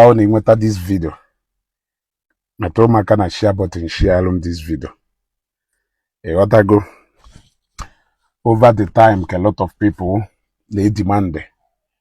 ọ wụ na i nweta this video metụọ m aka na share button sharealụ m this video ị ghọtago over the time ka lot of people na-edimandị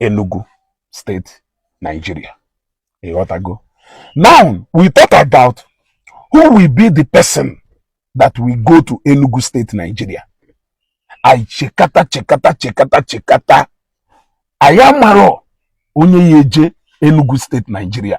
Enugu State Nigeria ị ghọtago now we thought about who will be the person that will go to Enugu State Nigeria anyị chekata chekata chekata chekata anyị amarọ onye ya-eje Enugu State Nigeria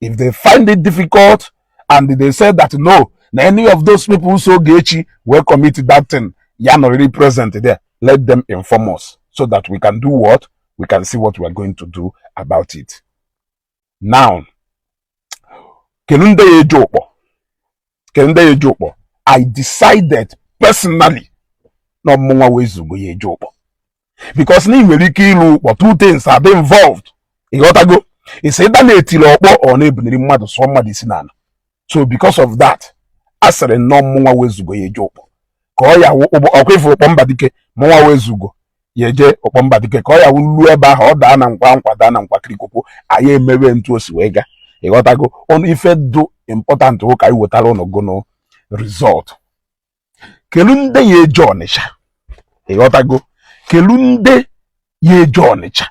if they find it difficult and they say that no na any of those people so Ogechi wee commit that thing ya not really present there let them inform us so that we can do what we can see what we are going to do about it now kelu ndị ya-eje Ụkpọ kelu ndị ya-eje Ụkpọ I decided personally na ọ mụnwa wụ Ezeugo ya-eje Ụkpọ because na i nwere ike ilu Ụkpọ two things are involved ị ghọtago it's either na e tiri ọkpọ or na e buniri mmadụ sụọ mmadụ isi n'ala so because of that asịrị m na ọ mụnwa wụ Ezeugo ya-eje Ụkpọ ka ọ ya ọ kwa ị fụ Ụkpọ Mbadike mụnwa wụ Ezeugo ya-eje Ụkpọ Mbadike ka ọ ya-awụ e luo ebe ahụ ọ daa na nkwa nkwa daa na nkwa kirikoko anyị emewe etu o si wee gaa ị ghọtago only ife dụ important wụ ka anyị wetara ụnụ gụnụ result kelu ndị ya-eje ọnịcha ị ghọtago kelu ndị ya-eje ọnịcha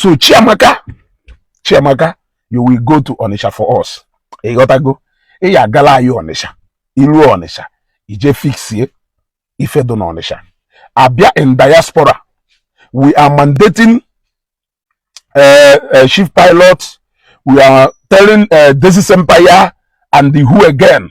so chiamaka chiamaka you will go to ọnịcha for us ị ghọtago ị ya-agala anyị ọnịcha i luo ọnịcha i jee fixie ife dụ n'ọnịcha a bịa in diaspora we are mandating uh, uh, chief pilot we are telling uh, Desi's Empire and the who again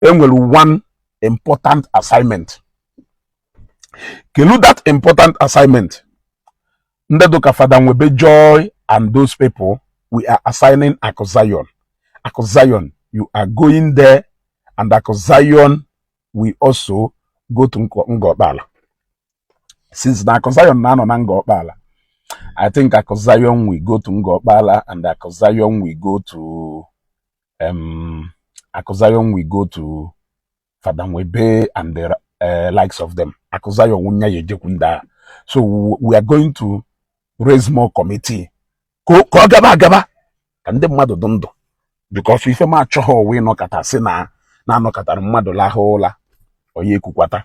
e nwere one important assignment kelu that important assignment ndị dụ ka fada nwebe joy and those people we are assigning akụ zion akụ zion you are going there and akụ zion will also go to Ngor Okpala since na akụ zion na-anọ na Ngor Okpala I think akụ zion will go to Ngor Okpala and akụ zion will go to um, Akụ Zion will go to Fada Nwebe and the uh, likes of them. Akụ Zion wụ onye ya-ejekwu nde a. So we are going to raise more committee. Ka ọ gaba agaba ka ndị mmadụ dụ ndụ because ife m achọhọ wụ a nọkata sị na a nọkatara mmadụ lahụ ụla onye ekwukwata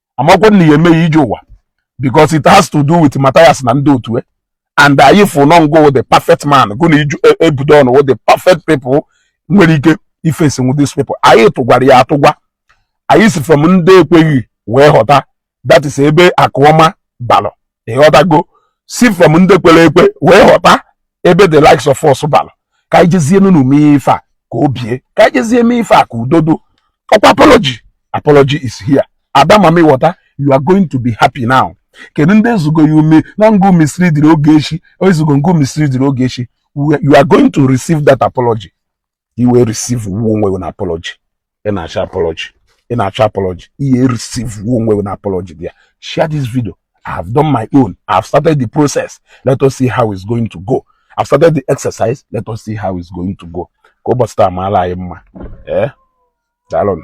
amakwa na ya emeghị ije ụwa because it has to do with Matthias na ndị otu e. and anyị fụ na ọ ngụ wụ the perfect man gụ na iju e, Ebudo wụ the perfect people nwere ike ifesinwu these people anyị tụgwara ya atụgwa anyị si from ndị ekweghị wee ghọta that is ebe Akụọma balọ ịghọtago si from ndị kwere ekwe wee ghọta ebe the likes of us balọ ka anyị jezienụnụ mee ife a ka o bie ka anyị jezie mee ife a ka udo dụ ọkwa apology apology is here ada mama ịghọta you are going to be happy now kedu ndị ezugo you mean na ngụ misleadiri Ogechi ezugo ngụ misleadiri Ogechi you are going to receive that apology iwe receive wu onwe gị na apology ị na-achọ apology ị na-achọ apology ihe receive wu onwe gị na apology bịa share this video I have done my own I have started the process let us see how it's going to go I've started the exercise let us see how it's going to go ka ụbọchị taa maalụ anyị mma eh? daalụnụ